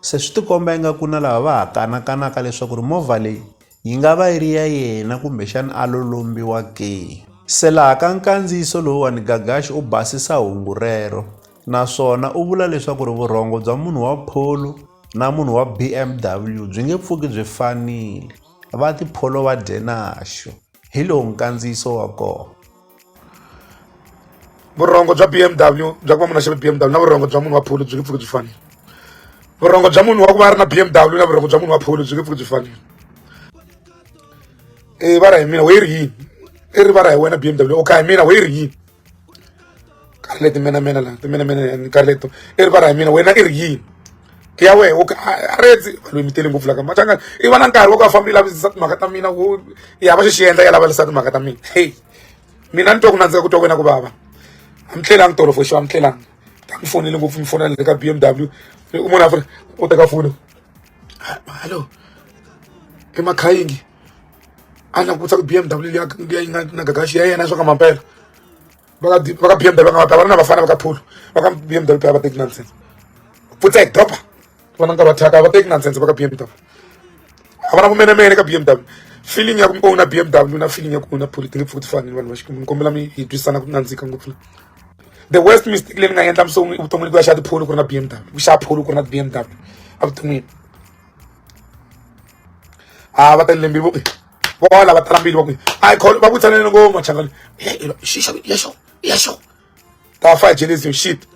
Se swi tikomba ingaku na lava va ha kanakanaka leswaku ri movha leyi yi nga va yi ri ya yena kumbexana a lo lombiwa ke. Se laha ka nkandziyiso lowuwani Gagashi u basisa hungu rero naswona u vula leswaku ri vurhongo bya munhu wa Polo na munhu wa BMW byi nge pfuki byi fanile, va ti Polo va dye naxo. hi lowu nkandziyiso wa kona vurhongo bya b m w bya ku va munhu a xave b m w na vurhongo bya munhu wa phulu byi nge pfuki byi fanile vurhongo bya munhu wa ku va a ri na b m w na vurhongo bya munhu wa phulu byi nge pfuki byi fanile i vara hi mina we ri yini i ri vara hi wena b m w o ka hi mina we ri yini nkarhi leti menamena la timenamena nkarhi leto i ri va ra hi mina wena i ri yini ke ya wehe woke a redzi vanhu mi tele ngopfu laka machanga i va na nkarhi wo ka fambi lavisisa timhaka ta mina wo ya va xi xi endla ya lavalisa timhaka ta mina hey mina ni twa ku nandzika ku twa wena ku vava a mi tlelanga tolo for sure a mi tlelanga ta mi fonele ngopfu mi fonela le ka b m w u munhu a fona u teka foni hallo emakhayingi a langutisa ku bmw leyi yi nga na gagaxi ya yena swa ka mampela va ka va ka bmw va nga mampela va ri na vafana va ka phulo va ka bmw va teki nonsense futsek dopa vona nkarhi wa thyaka va teki nonsense va ka bmw a va na vumenemene ka bmw feeling ya ku mi owna bmw na feeling ya ku owna phulo ti nge pfuki ti fanile vanhu va xikwembu ni kombela mi hi twisisana ku nandzika ngopfu la the worst mistake leyi ni nga endla musongwi evuton'wini ku ya xa tipholo ku ri na bmw ku xa pholo ku ri na bmw evuton'wini a va talele mbilu va ku vola va tala mbilu va ku a yi kholo va ku tsanele ngopfu machangani xixo yaxo yaxo ta fa jenism shit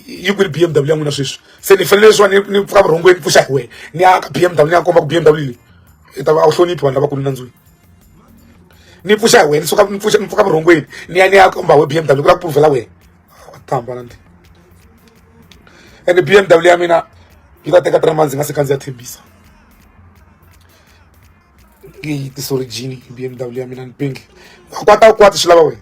yi kwini b m w ya n'wina sweswi se ni fanele leswiwani ni pfuka vurhongweni pfuxa hi wena ni ya ka b m w ni ya komba ku b m w leyi i ta va a wu hloniphi vanhu lavakulu nandzwini ni pfuxa hi wena ni suka ni pfuxa ni pfuka vurhongweni ni ya ni ya komba we b m w ku la ku puluvhela wena tamba na ndini ende bmw ya mina yi ta teka three months yi nga se kandziya thembisa ngi tisorigini bmw ya mina ni pingi kwata u kwata swi lava wena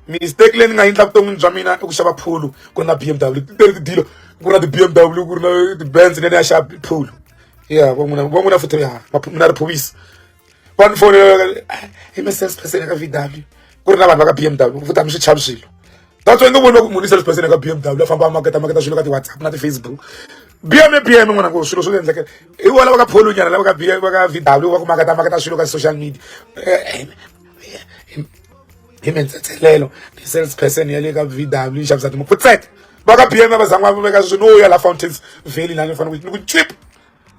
mistake leyi ni nga yendla vuton'wini bya mina i ku xava phulu ku ri na bmw titeri tidilo ku ri na ti-bmw ku ri na ti-bands leyi ni ya xava phulu ya van'wina van'wina futhi ya mina ri phuvisa va ni fonela i mi sales person eka vw ku ri na vanhu va ka b m w vutami swi chavi swilo that's why ni voni va ku munhu i sales person eka b m w a famba a maketa maketa swilo ka ti-whatsapp na ti-facebook b m e b m n'wana ku swilo swo ti endlekela i vona va ka pholunyana lava ka b va ka v w va ku maketa maketa swilo ka social media eh, eh, hi mintsetselelo ti-sales person ya le ka v w yi xavisa timukutseka va ka b m va zan'wa va veka swin'wi no ya la fountains valley lani ni fanele ni ku chip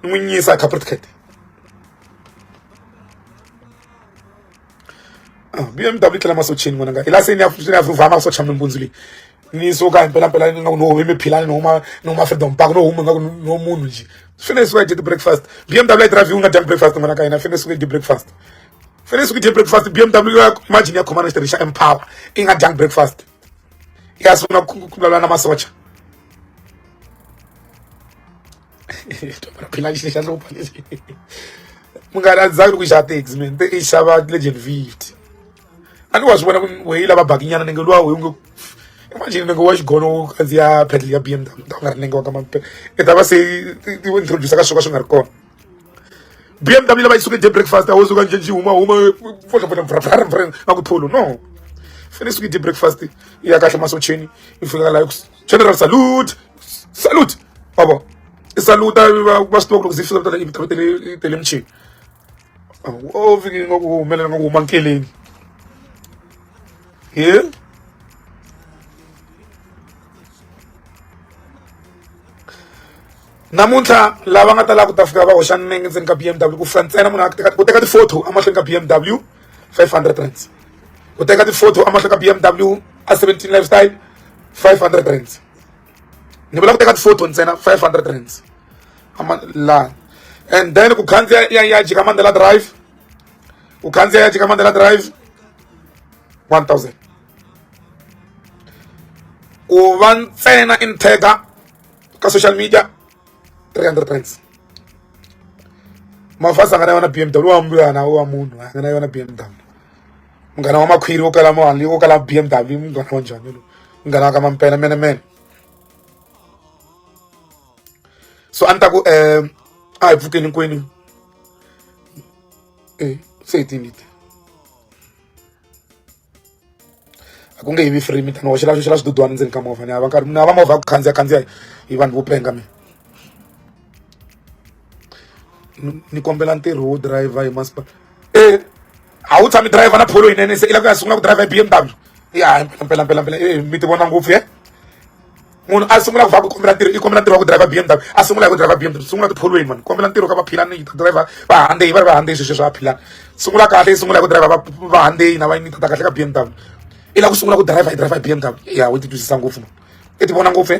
n'wi nyisa capritcat ah, bmw yi tlela masocheni n'wananga hi la se ni ya ni ya vhuvha masocha mimbundzu leyi ni suka himpelampela ni nga ku no humi philani no huma no huma freedom park no huma nga ku no munhu nje fane suka did breakfast bmw i drive unga did breakfast ngwana ka ina fane suka did breakfast fane suka did breakfast bmw ya imagine ya khomana xitirhi xa empower i nga did breakfast ya sungula ku vulavula na masocha phila xi xa hlupha lexi munghana a ndzi zangi ni ku xava tax mina te i xava legend fifty a ni wa swi vona ku weyi lava bakinyana ni nge luwa weyi nge imagine ni nge wa xigono wo kandziya pedal ya b m w ta ku nga ri nenge wa ka mampela i ta va se ti introduce ka swo ka swi nga ri kona b m w lava yi suke de breakfast a wo suka nje nji huma huma fotlopotla a ku tholo no fane suke de breakfast ya kahle masocheni yi fika laha General salute salute wa vo i saluta va va swi tiva ku loko zifika vitana vito te le te le michini o fike nga ku humelela nga ku huma nkeleni he namuntlha lava nga ta lava ku ta fika va hoxa nenge ndzeni ka BMW ku fika ntsena munhu a ku teka ti-photo emahlweni ka BMW 500 rands u teka ti-photo amahlweni ka BMW a 17 lifestyle 500 rands ni vula ku teka ti-photo ntsena 500 rands la and then ku khandziya ya ya jika mandela drive ku khandziya ya jika mandela drive 1000 ku va ntsena in tagger ka social media 300 points mafasi a nga na yona bmw wa mbuyana wa munhu a nga na yona bmw munghana wa makhwiri wo kala mali wo kala bmw munghana wa njhani lowu munghana wa ka mampela mene mene so a ni ta ku um a hi pfukeni kwini e se hi tinite a ku nge yivi free mi ta ni hoxela xoxela swidudwana ndzeni ka movha ni hava nkarhi ni hava movha ya ku khandziya khandziya hi vanhu vo penga mina ni kombela ntirho wo driver hi masipala e a wu tshami driver na pholo yinene se i la ku ya sungula ku driver hi b m w ya mpelampelampela e mi ti vona ngopfu ye munhu a sungula ku va ku kombela ntirho i kombela ntirho wa ku driver BMW a sungula hi ku driver BMW sungula tipholweni vanhu kombela ntirho ka vaphilani ta driver vahandei va ri vahandei sweswi swa vaphilani sungula kahle i sungula hi ku driver vahandei na va ni ta kahle ka BMW i lava ku sungula ku driver i driver BMW ya u ti twisisa ngopfu i ti vona ngopfu